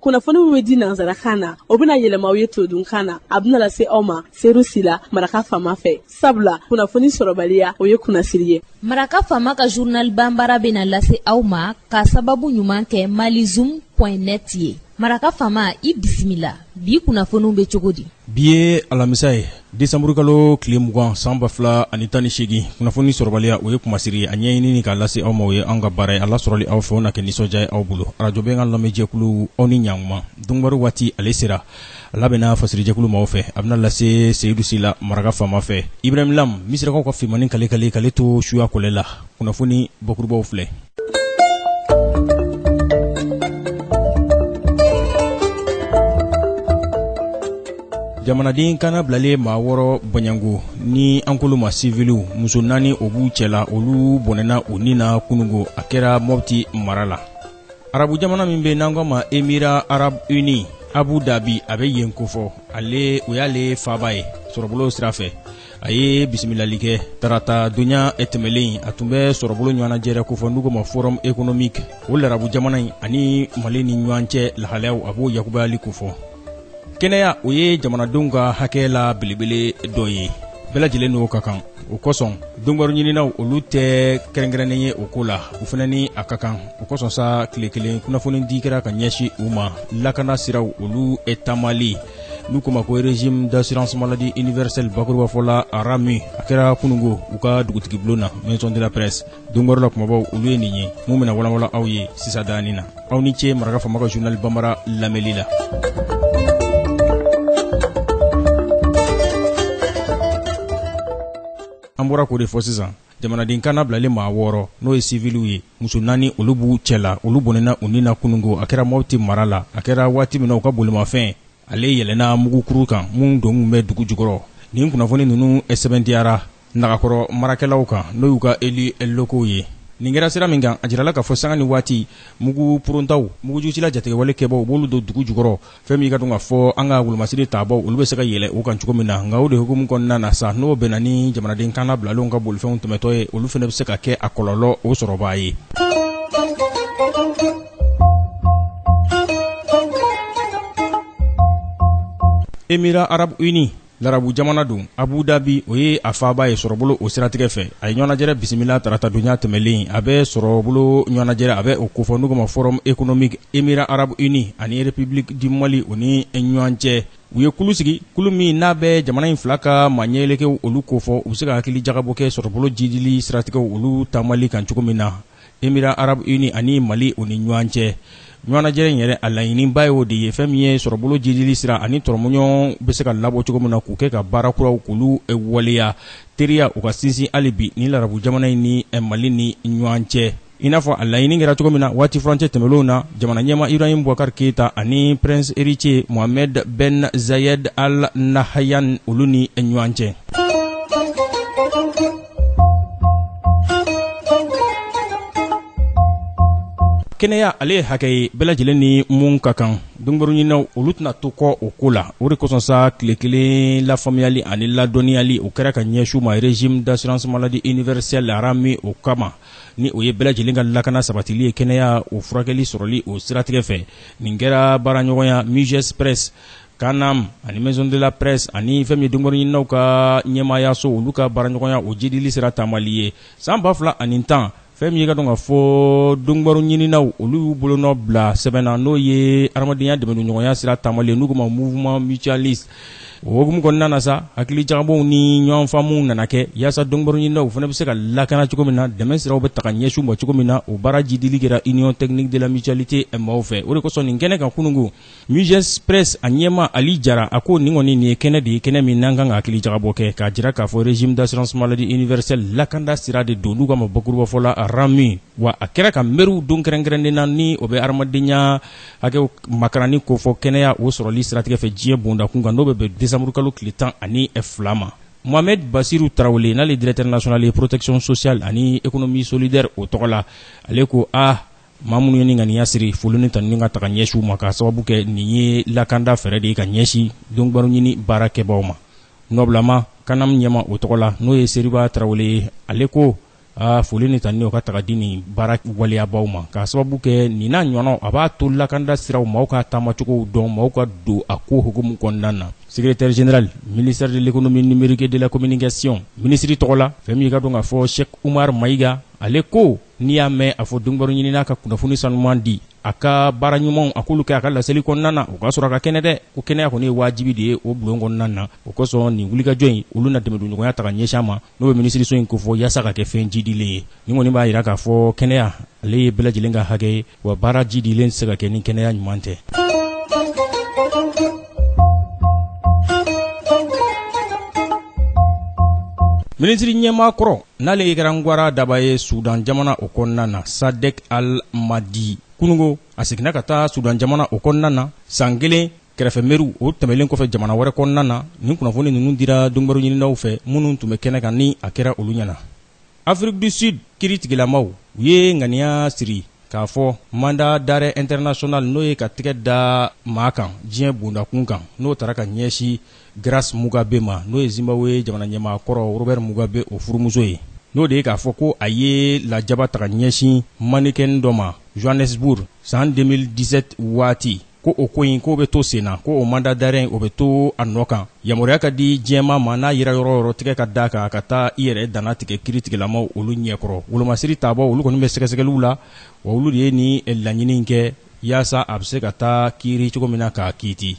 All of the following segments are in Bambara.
kunnafoni min bɛ di nansarakan na o bɛna yɛlɛma aw ye todunkan na a bɛna lase aw ma seyidu sila maraka faama fɛ sabula kunnafoni sɔrɔbaliya o ye kunnasiri ye maraka faama ka journal bambara bɛna lase aw ma k'a sababu ɲuman kɛ malizoom point net ye maraka faama i bisimila bi kunnafoniw bɛ cogo di bi ye alamisa ye desanburukalo tile mugan san ba fila ani tan ni seegin kunnafoni sɔrɔbaliya o ye kunmasiri ye a ɲɛɲinini k'a lase aw ma o ye an ka baara ye a lasɔrɔli aw fɛ o na kɛ nisɔndiya ye aw bolo arajo bɛnkan lamɛnjɛkulu aw ni ɲankuma donkibaru waati ale sera a labɛnna fasirijɛkulu maaw fɛ a bɛna lase seyidu sila maraka faama fɛ ibrahim lam misirakaw ka finmannin kale-kale k'ale to suya kɔlɛ la kunnafoni bakurubaw filɛ jamanaden kannabilalen maa wɔɔrɔ bɔɲɛngo ni an k'olu ma siviliw muso naani o b'u cɛ la olu bɔnɛna u ni na kunungo a kɛra mɔpti mara la arabu jamana min bɛ n'an k'a ma émirats arabes unis abu dabi a bɛ yen kofɔ ale o y'ale faaba ye sɔrɔbolo sira fɛ a ye bisimilali kɛ tarata donya tɛmɛlen a tun bɛ sɔrɔbolo ɲɔgɔnnajɛrɛ kofɔ n'u ko ma forum économique o larabu jamana in ani mali ni ɲɔgɔn cɛ lahalayaw a b'o yakubayali kofɔ kɛnɛya o ye jamanadenw ka hakɛ la belebele dɔ ye bɛɛ lajɛlen n'o ka kan o kosɔn donkibaru ɲininaw olu tɛ kɛrɛnkɛrɛnnen ye o ko la u fana ni a ka kan o kosɔn sa tile kelen kunnafonidi kɛra ka ɲɛsin u ma lakana siraw olu taamali n'u ko ma ko régime d'assurance maladie universelle bakuruba fɔ la ramu a kɛra kunungo u ka dugutigi bulon na maison de la presse donkibaru la kumabaw olu ye nin ye mun bɛna walanwalan aw ye sisan daani na aw ni ce maraka faama ka journal bambara lamɛnli la an bɔra k'o de fɔ sisan jamanaden kannabilalen maa wɔɔrɔ n'o ye siviliw ye muso naani olu b'u cɛ la olu bɔnɛna u ni na kunungo a kɛra mɔpti mara la a kɛra waati min na u ka bolimafɛn ale yɛlɛnna mugukuru kan min donnen bɛ dugu jukɔrɔ nin kunnafoni ninnu sɛbɛntiyara nagakɔrɔ marakɛlaw kan n'o y'u ka élus locaux ye nin kɛra sira min kan a jirala k'a fɔ sanga ni waati mugu porontaw mugujusila jatigɛwale kɛbaaw u b'olu don dugu jukɔrɔ fɛn min i k'a dɔn k'a fɔ an ka wolomasiri tabaaw olu bɛ se ka yɛlɛ u kan cogo min na nka o de hukumu kɔnɔna na sa n'o bɛnna ni jamanaden kannabilalenw ka bolifɛnw tɛmɛtɔ ye olu fana bɛ se ka kɛ a kɔlɔlɔ o sɔrɔbaa ye émirats arabes unis larabu jamana don abu dabi o ye a faaba ye sɔrɔbolo o siratigɛ fɛ a ye ɲɔgɔnnajɛrɛ bisimila tarata donya tɛmɛlen a bɛ sɔrɔbolo ɲɔgɔnnajɛrɛ a bɛ o kofɔ n'u ko ma forum économique émirats arabes unis ani république du mali o ni ɲɔgɔn cɛ u ye kulu sigi kulu min n'a bɛ jamana in fila ka maaɲɛyelekew olu kofɔ u bɛ se ka hakili jagabɔ kɛ sɔrɔbolo jiidili siratigɛw olu taamali kan cogo min na Émirats Arabes Unis ani Mali o ni ɲɔgɔn cɛ. Ɲɔgɔnnajɛrɛ in yɛrɛ, a laɲininba ye o de ye, fɛn min ye sɔrɔbolo jiidili sira ani tɔrɔmɔɲɔgɔn bɛ se ka labɔ cogo min na, k'u kɛ ka baara kuraw k'olu waleya teriyaw ka sinsin hali bi nin larabu jamana in ni Mali ni ɲɔgɔn cɛ. I n'a fɔ a laɲinin kɛra cogo min na waati furancɛ tɛmɛnlenw na, jamanaɲɛmaa Ibrahim Boubacar Keita ani Prince Héritier Mohammed Ben Zayed Al Nahyan olu ni ɲɔgɔn cɛ. kɛnɛya ale ye hakɛ ye bɛɛ lajɛlen ni mun ka kan donkibaru ɲininaw olu tɛna to kɔ o ko la o de kosɔn sa tile kelen lafaamuyali ani ladɔnniyali o kɛra ka ɲɛsin u ma régime d'assurance maladie universelle RAMU o kama ni o ye bɛɛ lajɛlen ka lakana sabatili ye kɛnɛya o furakɛli sɔrɔli o siratigɛ fɛ nin kɛra baaraɲɔgɔnya Muges Presse CANAM ani maison de la presse ani fɛn min ye donkibaru ɲininaw ka ɲɛmaayaso olu ka baaraɲɔgɔnya o jiidili sira taamali ye san ba fila ani tan fɛn min ye ka dɔn k'a fɔ donkibaru ɲininaw olu y'u bolonɔ bila sɛbɛn na n'o ye hadamadenya dɛmɛɲɔgɔnya sira taamali n'u k'a ma mouvement mutualiste o hukumu kɔnɔna na sa hakili jagabɔ ni ɲɔgɔnfaamu nana kɛ yaasa donkibaru ɲininaw fana bɛ se ka lakana cogo min na dɛmɛ siraw bɛ taga ɲɛsin u ma cogo min na o baara jiidili kɛra union technique de la mutualité maaw fɛ o de kosɔn nin kɛnɛ kan kunungo Muges Presse a ɲɛma ali jara a ko nin kɔni nin ye kɛnɛ de ye kɛnɛ min n'an kan ka hakili jagabɔ kɛ k'a jira k'a fɔ régime d'assurance maladie universelle lakanda sira de don n'u k'a ma bakurubafɔ la RAMU wa a kɛra ka mɛru don kɛrɛnkɛrɛnnen na ni o bɛ hadamadenya hakɛw makaranni kofɔ kɛnɛya o sɔrɔli siratigɛ fɛ diɲɛ bondakun kan n'o bɛ bɛn desanburukalo tile tan ani fila ma mohamed basiru tarawele n'ale directeur national ye protection sociale ani économie solidaire o tɔgɔ la ale ko a maa minnu ye nin ŋaniya siri foli ni tanuni ka taga ɲɛsin u ma k'a sababu kɛ nin ye lakanda fɛɛrɛ de ye ka ɲɛsin donkibaruɲini baarakɛbaaw ma nɔbilama CANAM ɲɛma o tɔgɔ la n'o ye seriba tarawele ye ale ko a foli ni tanuni o ka taga di nin baara waleyabaaw ma k'a sababu kɛ nin n'a ɲɔgɔnnaw a b'a to lakanda siraw maaw ka taamacogow dɔn maaw ka don a ko hukumu kɔnɔna na secrétaire général ministère de l'économie numérique et de la communication minisiri tɔgɔ la fɛn min ka dɔn k'a fɔ sɛk umar mayiga ale ko n'i y'a mɛn a fɔ donkibaru ɲininna ka kunnafoni sanuman di a ka baara ɲumanw a k'olu kɛ a ka laseli kɔnɔna na o k'a sɔrɔ a ka kɛnɛ dɛ ko kɛnɛya kɔni ye wajibi de ye o bulon kɔnɔna na o kosɔn nin wulikajɔ in olu na dɛmɛdonɲɔgɔnya ta ka ɲɛsin a ma n'o bɛ minisiriso in kofɔ yaasa ka kɛ fɛn jiidilen ye nin kɔni b'a jira k'a fɔ kɛnɛya ale ye bɛɛ lajɛlen ka hakɛ ye wa baara jiidilen tɛ se ka kɛ ni kɛnɛya ɲuman tɛ minisiri ɲɛmaa kɔrɔ n'ale ye garangwara daba ye sudan jamana o kɔnɔna na sadek al madi kunungo a seginna ka taa sudan jamana o kɔnɔna na san kelen kɛrɛfɛ mɛru o tɛmɛlen kɔfɛ jamana wɛrɛ kɔnɔna na nin kunnafoni ninnu dira donkibaru ɲininaw fɛ minnu tun bɛ kɛnɛ kan ni a kɛra olu ɲɛna afrique du sud kiiritigɛlamaw u ye ŋaniya siri k'a fɔ mandat d'arrêt international n'o ye ka tigɛ da maa kan diɲɛ bondakun kan n'o taara ka ɲɛsin grace mugabe ma n'o ye zimbabwe jamana ɲɛmaa kɔrɔ robert mugabe o furumuso ye n'o de ye k'a fɔ ko a ye lajaba ta ka ɲɛsin mannequin dɔ ma johannesburg san 2017 waati ko o ko in k'o bɛ to sen na ko o mandat d'arrêt o bɛ to a nɔ kan yamaruya ka di diɲɛmaa ma n'a yera yɔrɔ o yɔrɔ tɛgɛ ka da a kan a ka taa i yɛrɛ dannatigɛ kiiritigɛlamaw olu ɲɛkɔrɔ wolomasiri taabaaw olu kɔni bɛ sɛgɛsɛgɛliw la wa olu de ye nin laɲini in kɛ yaasa a bɛ se ka taa kiiri cogo min na k'a kiiti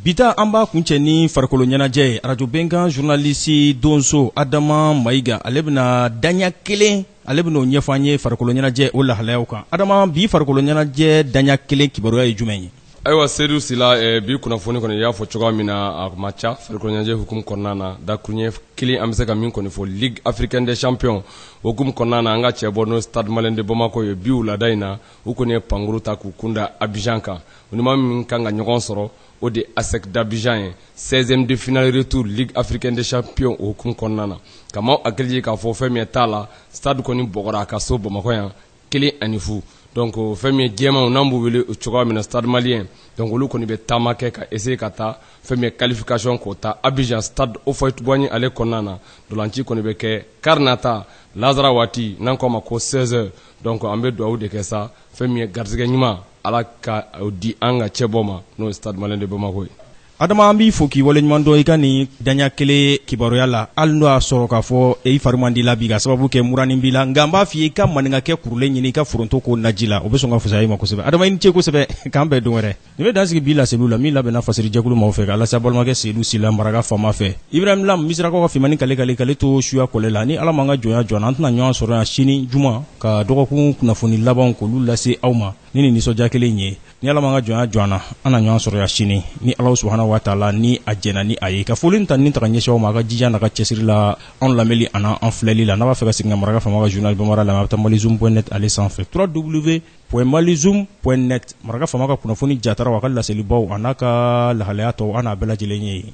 bi ta an b'a kuncɛ ni farikolo ɲɛnajɛ ye arajo bɛnkan journaliste donso adama mayiga ale bɛna daɲa kelen ale bɛn'o ɲɛfɔ an ye farikolo ɲɛnajɛ o lahalayaw kan adama bi farikolo ɲɛnajɛ daɲa kelen kibaruya ye jumɛn ye ayiwa sedu sila eh, bi kunnafoni kɔni y'a fɔ cogoya min na a ma ca farikolo ɲɛnajɛ hukumu kɔnɔna na dakuruɲɛ kelen an bɛ se ka min kɔni fɔ ligue africaine des champions hukumu kɔnɔna na an ka cɛbɔ n'o stade malien de bamako ye bi wulada in na u kɔni ye pankuru ta k'u kunda abidjan kan u ni maa min kan ka ɲɔgɔn sɔrɔ o de ASEC d'Abidjan ye 16e de finale retour ligue africaine des champions o hukumu kɔnɔna na ka maaw hakili jigin k'a fɔ fɛn min ye taali stade kɔni bugɔra a ka so bamakɔ yan kelen ani fu donc fɛn min ye jɛmanw n'an b'u wele o cogoya min na stade malien donc olu kɔni bɛ taama kɛ ka essayer ka taa fɛn min ye qualification k'o ta Abidjan stade Houphouët-Boigny ale kɔnɔna na ntolaci kɔni bɛ kɛ kari nata lansara waati n'an k'a ma ko 16 heures donc an bɛ dugawu de kɛ sa fɛn min ye garisɛgɛ ɲuman Ala ka o di an ka cɛbɔ ma n'o ye Stade Malien de Bamako ye. Adama an b'i fo k'i waleɲumandɔn i ka nin daɲa kelen kibaruya la hali n'o y'a sɔrɔ k'a fɔ i fari man di i la bi k'a sababu kɛ muranin b'i la nka n b'a f'i ye i ka maninkakɛ kurulen ɲini i ka foronto k'o naji la o bɛ sɔn ka fusaya i ma kosɛbɛ Adama i ni ce kosɛbɛ k'an bɛn don wɛrɛ nin bɛ dan sigi bi laseliw la min labɛnna fasirijɛkulu maaw fɛ k'a lase a balimakɛ Seyidu Sila maraka faama fɛ Ibrahim Lam misirakaw ka finmani kale-kale k'ale to suya kɔlɛ la ni Ala m'an ka jɔnya jɔ an na an tɛna ɲɔgɔn sɔrɔ yan sini juma ka dɔgɔkun kunnafoni labanw k'olu lase aw ma ni nin nisɔndiya kelen ye ni ala m'an ka jɔnya jɔ an na an na ɲɔgɔn sɔrɔ yan sini ni ala subahana wa taala ni a jɛnna ni a ye ka foli ni tanuni ta ka ɲɛsin aw ma a ka jija n'a ka cɛsiri la anw lamɛnni ani an filɛli la n'a b'a fɛ ka segin ka maraka faama ka journal bambara lamɛn a bɛ taa malizoom point net ale sanfɛ www.malizoom.net maraka faama ka kunnafoni jataraw a ka laselibaw an'a ka lahalaya tɔw a n'a bɛɛ lajɛlen ye